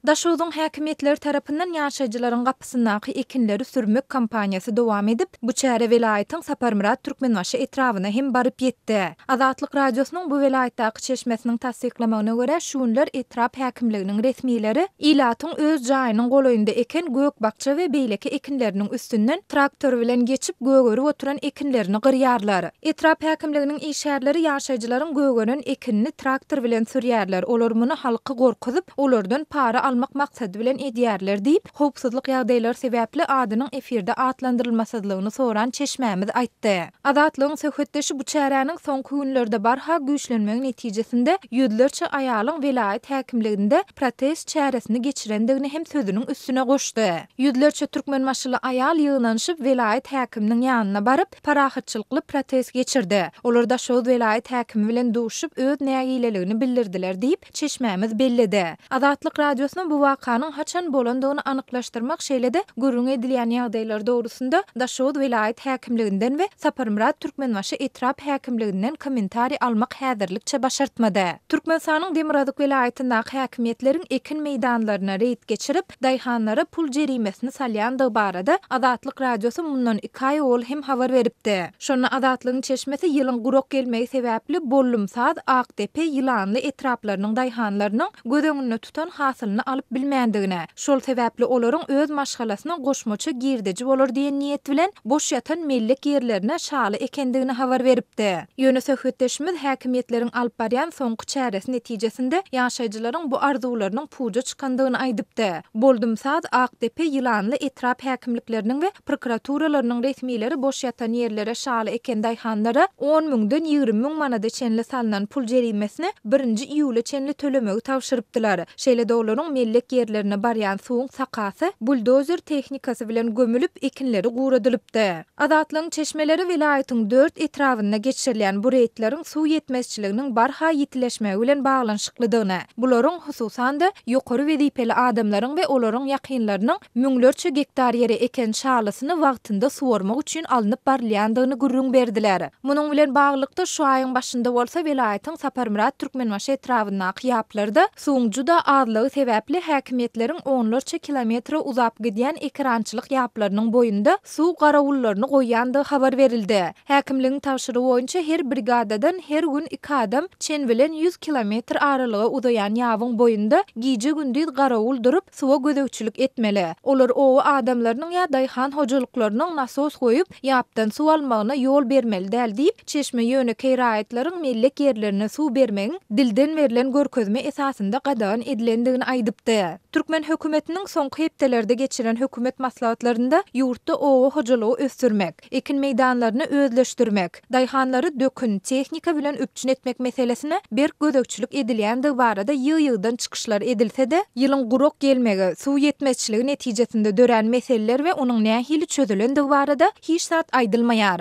Daşoguzyň häkimiýetleri tarapyndan ýaşaýjylaryň gapysyndaky ekinleri sürmek kampaniýasy dowam edip, bu çäre welaýatyň Saparmyrat Türkmenbaşy etrabyna hem baryp ýetdi. Azatlyk Radiosynyň bu welaýatdaky çeşmesiniň tassyklamagyna görä, şu günler etrap häkimliginiň resmileri ilatyň öz jaýynyň golaýynda eken gök-bakja we beýleki ekinleriniň üstünden traktor bilen geçip, gögerip oturan ekinlerini gyrýarlar. Etrap häkimliginiň işgärleri ýaşaýjylaryň gögeren ekinini traktor bilen sürýärler, olar muny halky gorkuzyp, olardan para almak maksady bilen edýärler diýip, howpsuzlyk ýagdaýlary sebäpli adynyň efirde atlandyrylmasyzlygyny soran çeşmämiz aýtdy. Azatlygyň söhbetdeşi bu çäräniň soňky günlerde barha güýçlenmegi netijesinde ýüzlerçe aýalyň welaýat häkimliginde protest çäresini geçirendigini hem sözüniň üstüne goşdy. Ýüzlerçe türkmenbaşyly aýal ýygnanyşyp, welaýat häkiminiň ýanyna baryp, parahatçylykly protest geçirdi. Olar Daşoguz welaýat häkimi bilen duşup, öz nägileligini bildirdiler diýip, çeşmämiz belledi. Azatlyk Radiosyna bu wakanyň haçan bolandygyny anyklaşdyrmak, şeýle-de gürrüň edilýän ýagdaýlar dogrusynda Daşoguz welaýat häkimliginden we Saparmyrat Türkmenbaşy etrap häkimliginden kommentariý almak häzirlikçe başartmady. Türkmenistanyň demirgazyk welaýatyndaky häkimiýetleriň ekin meýdanlaryna reýd geçirip, daýhanlara pul jerimesini salýandygy barada Azatlyk Radiosy mundan iki aý owal hem habar beripdi. Şonda Azatlygyň çeşmesi ýylyň gurak gelmegi sebäpli Bollumsaz, Akdepe, Ýylanly etraplarynyň daýhanlarynyň göz öňünde tutan hasylyny alyp bilmändigine, şol sebäpli olaryň öz maşgalasyna goşmaça girdeji bolar diýen niýet bilen boş ýatan mellek ýerlerine şaly ekendigini habar beripdi. Ýöne söhbetdeşimiz häkimiýetleriň alyp barýan soňky çäresi netijesinde ýaşaýjylaryň bu arzuwlarynyň puja çykandygyny aýdypdy. Boldumsaz, Akdepe, Ýylanly etrap häkimlikleriniň we prokuraturalarynyň resmileri boş ýatan ýerlere şaly eken daýhanlara on müňden ýigrimi müň manada çenli salnan pul jerimesini birinji iýule çenli tölemegi tabşyrypdylar. Şeýle-de olaryň mellek ýerlerine barýan suwuň sakasy buldozer tehnikasy bilen gömülip, ekinleri guradylypdy. Azatlygyň çeşmeleri welaýatyň dört etrabynda geçirilýän bu reýdleriň suw ýetmezçiliginiň barha ýitileşmegi bilen baglanyşyklydygyny, bularyň, hususan-da, ýokary wezipeli adamlaryň we olaryň ýakynlarynyň müňlerçe gektar ýere eken şalysyny wagtynda suwarmak üçin alnyp barylýandygyny gürrüň berdiler. Munuň bilen baglylykda, şu aýyň başynda bolsa welaýatyň Saparmyrat Türkmenbaşy etrabyndaky ýaplarda suwuň juda azlygy sebäpli häkimiýetleriň onlarça kilometre uzap gidýän ekerançylyk ýaplarynyň boýunda suw garawullaryny goýýandygy habar berildi. Häkimligiň tabşyrygy boýunça her brigadadan her gün iki adam çen bilen ýüz kilometr aralyga uzaýan ýabyň boýunda gije-gündiz garawul durup, suwa gözegçilik etmeli. Olar oba adamlarynyň ýa daýhan hojalyklarynyň nasos goýup, ýapdan suw almagyna ýol bermeli däl diýip, çeşme ýönekeý raýatlaryň mellek ýerlerine suw bermegiň dilden berlen görkezme esasynda gadagan edilendigini aýdypdy. Türkmen hökümetiniň soňky hepdelerde geçiren hökümet maslahatlarynda ýurtda oba hojalygy ösdürmek, ekin meýdanlaryny özleşdirmek, daýhanlary dökün, tehnika bilen üpjün etmek meselesine berk gözegçilik edilýändigi barada ýygy-ýygydan çykyşlar edilse-de, ýylyň gurak gelmegi, suw ýetmezçiligi netijesinde dörän meseleler we onuň nähili çözülendigi barada hiç zat aýdylmaýar.